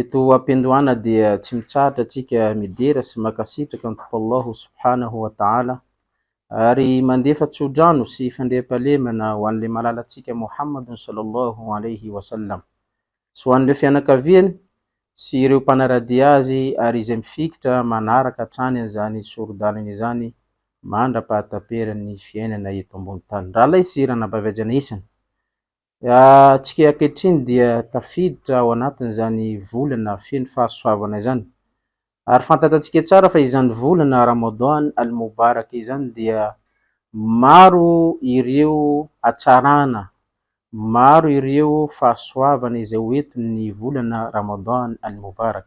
Eto ampiandohana dia tsy mitsahatra antsika midera sy mankasitraka an'i Tompo Allah subhanahu wa ta'ala ary mandefa tsodrano sy fandriampahalemana ho an'ilay malalantsika Mohamadun sallallahu alayhi wa sallam sy ho an'ireo fianakaviany sy ireo mpanaradia azy ary izay mifikitra manaraka hatrany an'izany sori-dalana izany mandra-pahataperan'ny fiainana eto ambony tany. Ralay sy ranabavy ajanahysana Ny antsika ankehitriny dia tafiditra ao anatin'izany volana feno fahasoavana izany. Ary fantatantsika tsara fa izany volana Ramadhan al-Mubarak izany dia maro ireo hatsarana, maro ireo fahasoavana izay ho entin'ny volana Ramadhan al-Mubarak.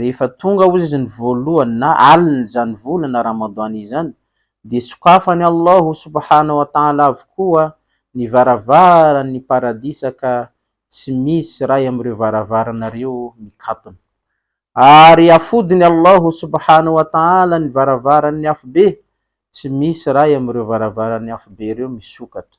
Rehefa tonga ozy ny voalohany na alin' izany volana Ramadhan izany, dia sokafan'i Allah subhana wa ta'ala avokoa ny varavaran' ny Paradisa ka tsy misy iray amin' ireo varavarana ireo mikatona. Ary afodin'i Allah subhana wa ta'ala ny varavaran' ny Afobe, tsy misy iray amin' ireo varavaran' ny Afobe ireo misokatra.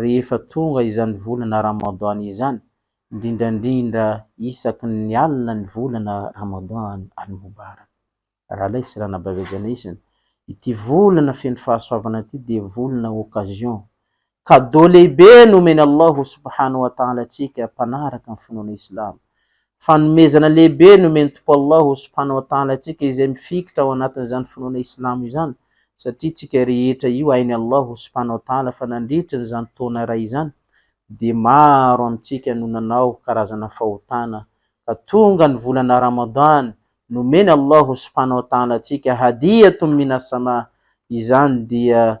Rehefa tonga izany volana Ramadan izany, indrindrandrindra isaky ny alina ny volana Ramadan al-Mubarak, Ralay sy Ranabavy Ajana Isina, ity volana feno fahasoavana ity dia volana occasion, cadeau lehibe nomen'i Allahu subhanahu wa ta'ala antsika mpanaraka ny finoana Islamo, Fanomezana lehibe nomen'ny Tompo Allah subhanahu wa ta'ala antsika izay mifikitra ao anatin'izany finoana Islamo izany satria tsika rehetra io hain'i Allah subhanahu wa ta'ala fa nandritry ny izany taona iray izany dia maro amintsika no nanao karazana fahotana ka tonga ny volana Ramadan nomeny Allah subhanahu wa ta'ala antsika hadiyatun minas-sama izany dia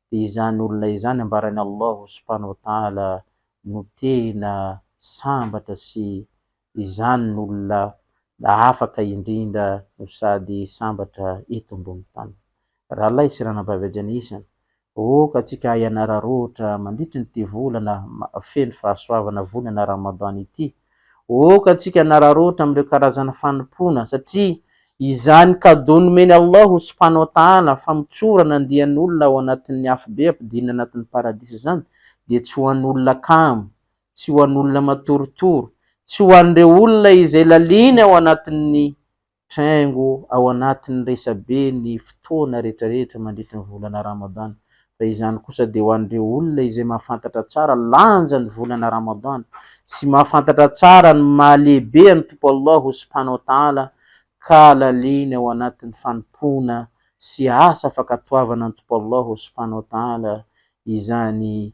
Dia izany olona izany ambaran'i Allah subhanahu wa ta'ala no tena sambatra sy izany no olona afaka indrindra no sady sambatra eto ambony tany. Rahalahy sy ranabavy hajan'ny isany, aoka antsika hianara roatra mandritry ity volana feno fahasoavana volana Ramadan ity, Ôka antsika hanararaotra amin'ireo karazana fanompoana satria izany cadeau nomen'i Allah subhana wa ta'ala famotsorana andian'olona ao anatin'ny afobe ampidinina anatin'ny paradisa izany dia tsy ho an'olona kamo, tsy ho an'olona matoritory, tsy ho an'ireo olona izay lalina ao anatin'ny Traingo ao anatin'ny resabe ny fotoana rehetrarehetra mandritry ny volana Ramadan, fa izany kosa dia ho an'ireo olona izay mahafantatra tsara lanja ny volana Ramadan sy mahafantatra tsara ny mahalehibe an'i Tompo Allah subhanahu wa ta'ala ka laliny ao anatin'ny fanompoana sy asa fankatoavana an'i Tompo Allah subhanahu wa ta'ala izany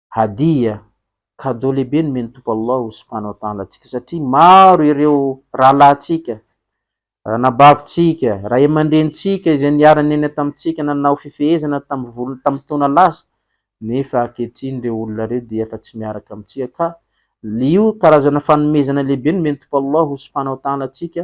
Hadiya, cadeau lehibe nomen'ny Tompo Allah subhana wa ta'ala antsika satria maro ireo rahalahintsika, ranabavintsika, ray aman-drenintsika izay niarany niaina tamintsika nanao fifehezana tamin'ny volony tamin'ny taona lasa nefa ankehitriny ireo olona ireo dia efa tsy miaraka amintsika ka io karazana fanomezana lehibe nomen'ny Tompo Allah subhana wa ta'ala antsika